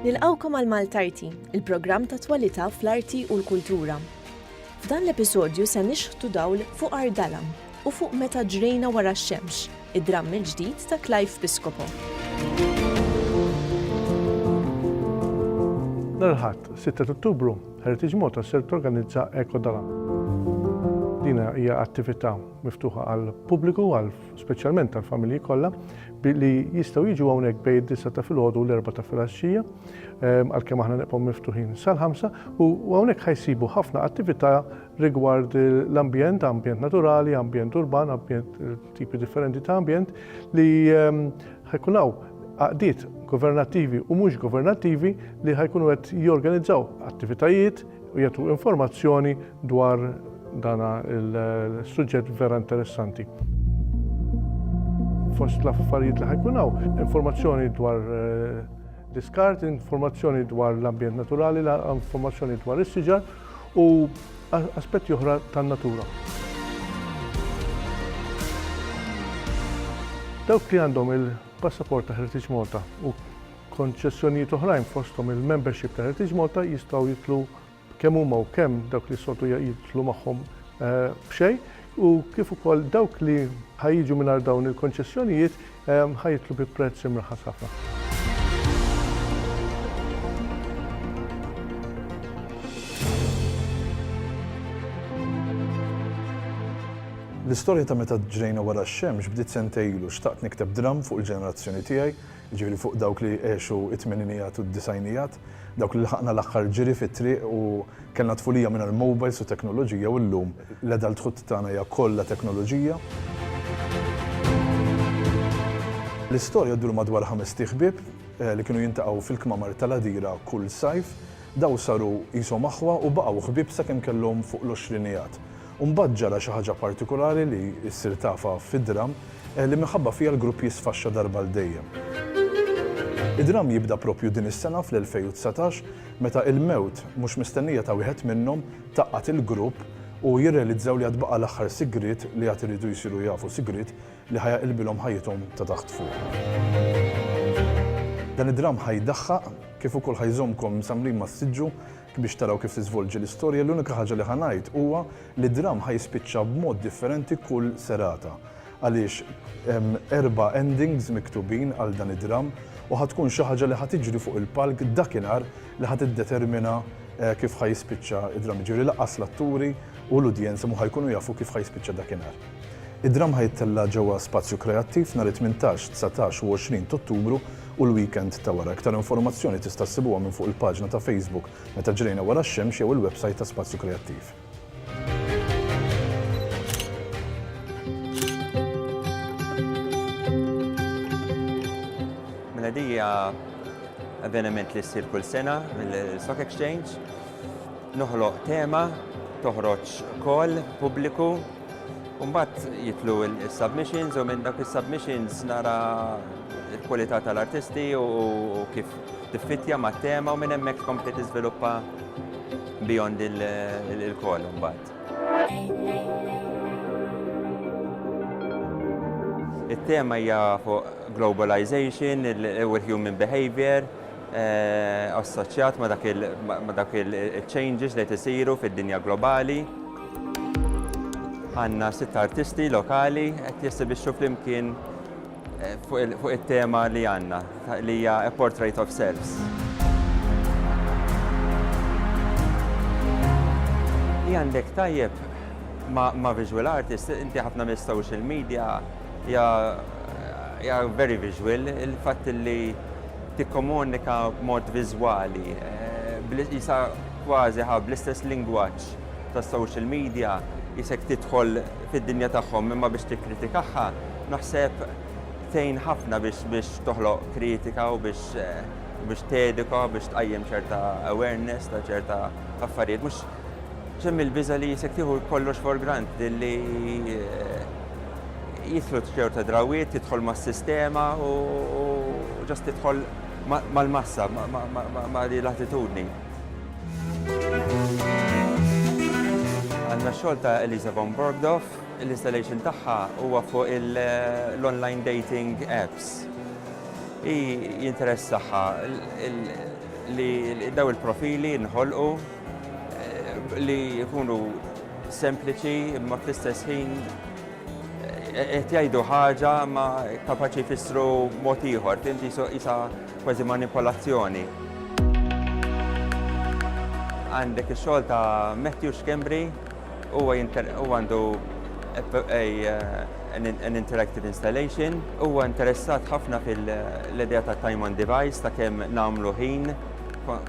Nilqawkom għal Maltarti, il-programm ta' twalità fl-arti u l-kultura. F'dan l-episodju se nixħtu dawl fuq Ardalam u fuq meta ġrejna wara x-xemx, id-dramm il-ġdid ta' Clive Piscopo. Nhar il-Ħadd, 6 ta' Ottubru, Heritage Malta ser torganizza Eko Dalam. Din hija attività miftuħa għall-pubbliku għal speċjalment tal-familji kollha, li jistgħu jiġu hawnhekk bejn id-disa ta' filgħodu u l-erba ta' filgħaxxija, ehm, għalkemm aħna nibqgħu miftuħin sal-ħamsa, u hawnhekk ħajsibu ħafna attività rigward l-ambjent, ambjent naturali, ambjent urban, ambjent eh, tipi differenti ta' ambjent li ehm, ħajkun hawn għaqdiet governattivi u mhux governattivi li ħajkunu qed jorganizzaw attivitajiet u jagħtu informazzjoni dwar dan il-suġġett vera interessanti. Fost l-affarijiet li ħajkun hawn, informazzjoni dwar eh, diskart, informazzjoni dwar l-ambjent naturali, informazzjoni dwar is-siġar u aspetti oħra tan-natura. Dawk li għandhom il-passaport ta' Heritage Malta u Konċessjonijiet oħrajn fosthom il-membership ta' Heritage Malta jistgħu jidħlu kemm huma u kemm dawk li s-soltu jidħlu magħhom b'xejn u kif ukoll dawk li ħa jiġu mingħajr dawn il-konċessjonijiet ħa jidħlu bi prezz imraħħas ħafna. L-istorja ta' meta ġrejna wara x-xemx bdiet sentejn ilu xtaqt nikteb dramm fuq il-ġenerazzjoni tiegħi jiġifieri fuq dawk li għexu t-tmeninijat u d-disgħinijat, dawk li lħaqna l-aħħar ġiri fit-triq u kellna tfulija mingħajr mowbajls u teknoloġija u llum l-adulthood tagħna hija kollha teknoloġija. L-istorja ddur madwar ħames tih ħbieb li kienu jintaqgħu fil-kmamar tal-għadira kull sajf. Dawn saru qishom aħwa u baqgħu ħbieb sakemm kellhom fuq l-għoxrinijat. U mbagħad ġara xi ħaġa partikulari li ssir tafha fid-dramm, li minħabba fiha l-grupp jisfaxxa darba għal dejjem. Id-dramm jibda proprju din is-sena fl-2019 meta il-mewt mhux mistennija ta' wieħed minnhom tgħaqqad il-grupp u jirrealizzaw li għad baqa' l-aħħar sigriet li għad iridu jsiru jafu, sigriet li ħa jaqilbilhom ħajjithom ta' taħt fuq. Dan id-dramm ħa jdaħħaq kif ukoll ħa jżommkom msamrin mas-siġġu Hekk biex taraw kif tiżvolġi l-istorja l-unika ħaġa li ħa ngħid huwa li dramm ħa jispiċċa b'mod differenti kull serata għaliex hemm erba' endings miktubin għal dan id-dramm u ħa tkun xi ħaġa li ħa tiġri fuq il-palk dakinhar li ħa tiddetermina kif ħa jispiċċa d-dramm jiġifieri lanqas l-atturi u l-udjenza mhu ħa jkunu jafu kif ħa jispiċċa dakinhar. Id-dramm ħa jittella' ġewwa Spazju Kreattiv nhar it-tmintax, dsatax u għoxrin t'Ottubru u l-weekend ta' wara. Iktar informazzjoni tista' ssibuha minn fuq il-paġna ta' Facebook Meta Ġrejna Wara x-Xemx jew il-websajt ta' Spazju Kreattiv. Mela di hija avveniment li ssir kull sena mill-Stock Exchange. Noħloq tema, toħroġ call, pubbliku, U mbagħad jitlu s-submissions u minn dak is-submissions nara l-kwalità tal-artisti u kif tiffittja ma' tema u minn hemmhekk tkompli tiżviluppa beyond il-kol mbagħad. It-tema hija fuq globalization u l-human behavior, assoċjat ma' dawk il-changes li qed isiru fid-dinja globali. Għandna sitt artisti lokali qed jessibixxu flimkien fuq it-tema li għandna li hija A Portrait of Selves. Li għandek tajjeb ma' visual artist, inti ħafna mis-social media hija very visual, il-fatt li tikkomunika b'mod viżwali, bl-, qisha kważi ħa bl-istess lingwaġġ tas-social media, qisek tidħol fid-dinja tagħhom imma biex tikkritikahha, naħseb tgħin ħafna biex biex toħloq kritika u biex biex teduka, biex tqajjem ċerta awareness ta' ċerta affarijiet. Mhux, x'hemm il-biża' li qisek tieħu kollox for granted li, jidħlu ċerta drawiet, tidħol mas-sistema u ġast tidħol mal-massa, ma' di l-attitudni. Għanna xogħol ta' Elisa von Borgdorf, l-installation tagħha huwa fuq l-online dating apps. Hi jinteressaha li daw il-profili nħolqu Li jkunu sempliċi imma fl-istess ħin eh, qed jgħidu ħaġa ma kapaċi jfissru mod ieħor, tinti isa kważi manipolazzjoni. Għandek ix-xogħol ta' Matthew Schembri huwa għandu an interactive installation. Huwa interessat ħafna fil-idea ta' time on device ta' kemm nagħmlu ħin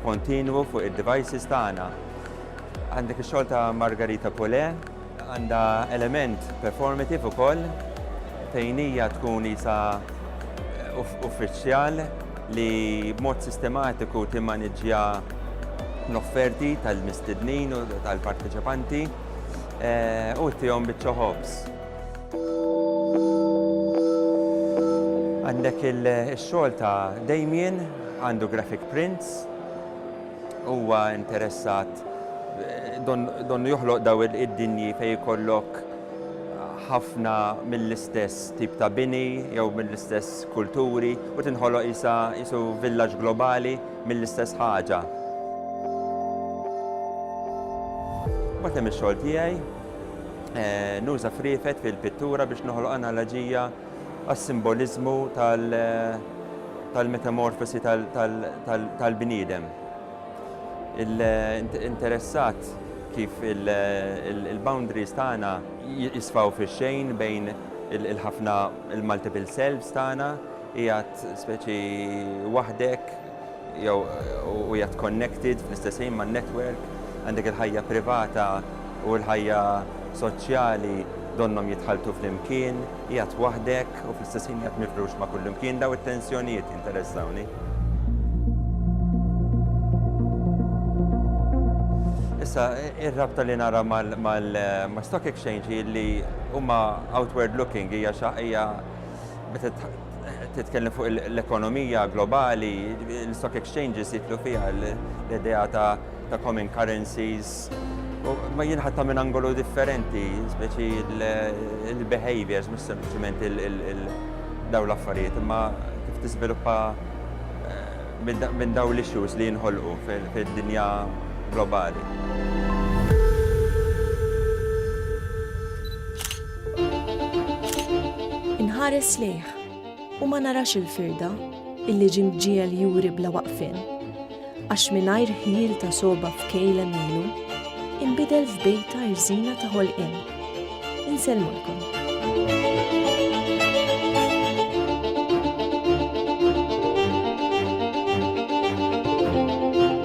kontinwu fuq id-devices tagħna. Għandek ix-xogħol ta' Margarita Poulé. Għandha element performative ukoll fejn hija tkun qisha uffiċjal li b'mod sistematiku timmaniġġja l-offerti tal-mistednin u tal-parteċipanti u ttihom biċċa ħobż. Għandek il-xogħol ta' Damien, għandu graphic prints, huwa interessat donnu joħloq daw id-dinji fej jkollok ħafna mill-istess tip ta' bini jew mill-istess kulturi u tinħoloq isa isu villaġġ globali mill-istess ħaġa. Batem ix-xogħol tiegħi eh, nuża friefet fil-pittura biex noħloq analoġija għas-simboliżmu tal-metamorfosi tal-bniedem. Interessat kif il-boundaries tagħna jisfaw fix-xejn bejn il-ħafna il-multiple selves tagħna jgħat speċi waħdek jew u jgħat connected fl-istess ħin ma' network, għandek il-ħajja privata u l-ħajja soċjali donnhom jitħalltu flimkien, jgħat waħdek u fl-istess ħin jgħat mifrux ma' kullimkien, dawn it-tensjonijiet jinteressawni. Issa, ir-rabta li nara mal-stock exchange hi li huma outward looking, hija xi hija meta titkellem fuq l-ekonomija globali, l-stock exchanges jitlu fiha l-idea ta' common currencies. Ma jinħatta minn angolu differenti, speċi il-behaviors, mux sempliciment il-daw l-affarijiet, imma kif tiżviluppa eh, minn daw l-issues li jinħolqu fil-dinja globali. Inħares lejh u ma narax il-firda illi ġie mġiegħel juri bla waqfien, għax mingħajr ħjiel ta' sogħba f'kejl għemilu, inbidel f'bejta rżina ta' ħolqien. Insellmulkom.